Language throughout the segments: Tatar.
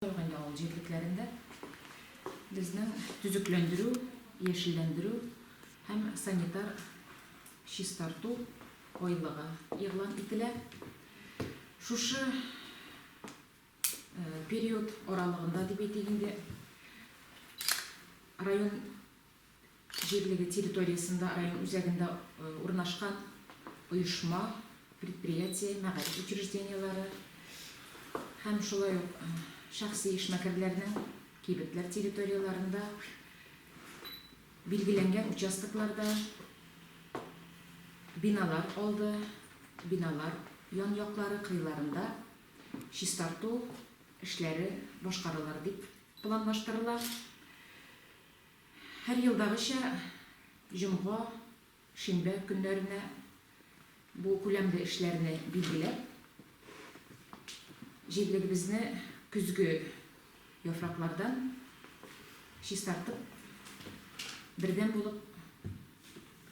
Торгай авыл җирлекләрендә безнең төзекләндерү, яшелләндерү һәм санитар чистарту айлыгы игълан ителә. Шушы период аралыгында дип әйтик инде, район Җирлеге территориясендә район үзәгендә урнашкан оешма, предприятие, мәгариф учреждениеләре һәм шулай ук шәхси эшмәкәрләрнең кибетләр территорияләрендә билгеләнгән участокларда биналар алды, биналар ян-яклары, кыйларында чистарту эшләре башкарылыр дип планлаштырыла. Һәр елдагыча, җомга, шимбә көннәренә бу күләмле эшләрне билгеләп, җирлегебезне көзге яфраклардан чистартып, бердәм булып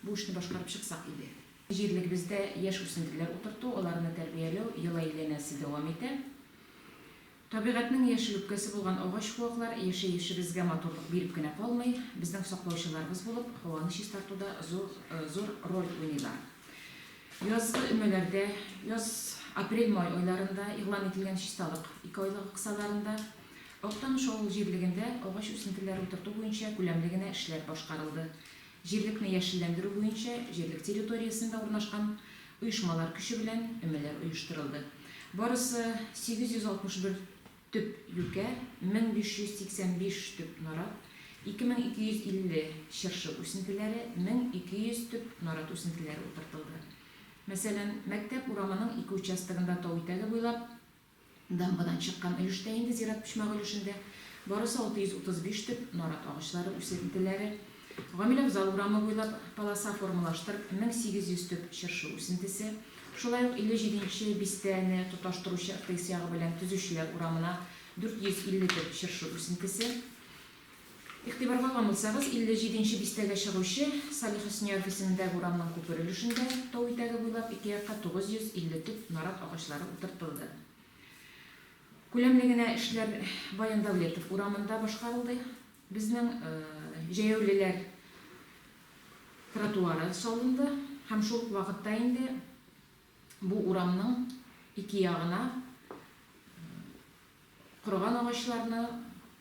бу эшне башкарып чыксак иде. Җирлегебездә яшь үсентеләр утырту, аларны тәрбияләү ел әйләнәсе дәвам итә. Табигатьнең яшел үпкәсе булган агач-куаклар яшәешебезгә матурлык биреп кенә калмый, безнең саклаучыларыбыз булып, һаваны чистартуда зур роль уйныйлар. Язгы өмәләрдә, яз, апрель-май айларында игълан ителгән чисталык ике айлыгы кысаларында Актаныш авыл җирлегендә агач үсентеләре утырту буенча күләмле генә эшләр башкарылды. Җирлекне яшелләндерү буенча җирлек территориясендә урнашкан оешмалар көче белән өмәләр оештырылды. Барысы 861 төп юкә, 1585 төп нарат, 2250 чыршы үсентеләре, 1200 төп нарат үсентеләре утыртылды. Мәсәлән, мәктәп урамының ике участогында тау итәге буйлап, Дамбадан чыккан өлештә инде зират почмагы өлешендә барысы 635 төп нарат агачлары үсентеләре, Гамил абзал урамы буйлап полоса формалаштырып 1800 төп чыршы үсентесе, шулай ук 57 нче бистәне тоташтыручы ыртыйс ягы белән Төзүчеләр урамына 450 төп чыршы үсентесе, Игътибарга алсагыз, 57 нче бистәгә чыгучы Салих Хөснияров исемендәге урамның күпер өлешендә тау итәге буйлап ике якка 950 төп нарат агачлары утыртылды. Күләмле генә эшләр Баян Дәүлетов урамында башкарылды. Безнең җәяүлеләр тротуары салынды һәм шул ук вакытта инде Бу урамның ике ягына корыган агачларны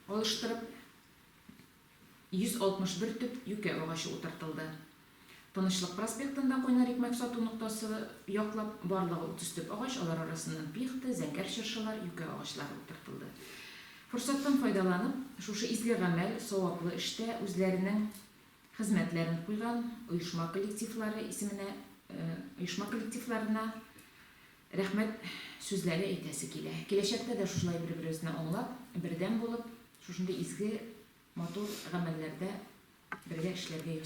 алыштырып, 161 төп юкә агачы утыртылды. Тынычлык проспектында Кайнар икмәк сату ноктасы яклап барлыгы 30 төп агач, алар арасыннан пихта, зәңгәр чыршылар, юкә агачлары утыртылды. Форсаттан файдаланып, шушы изге гамәл, саваплы эштә үзләренең Хезмәтләрен куйган оешма коллективлары исеменә, оешма коллективларына рәхмәт сүзләре әйтәсе килә. Киләчәктә дә шушылай бер-беребезне аңлап, бердәм булып, шушындый изге, матур гамәлләрдә бергә эшләргә язсын.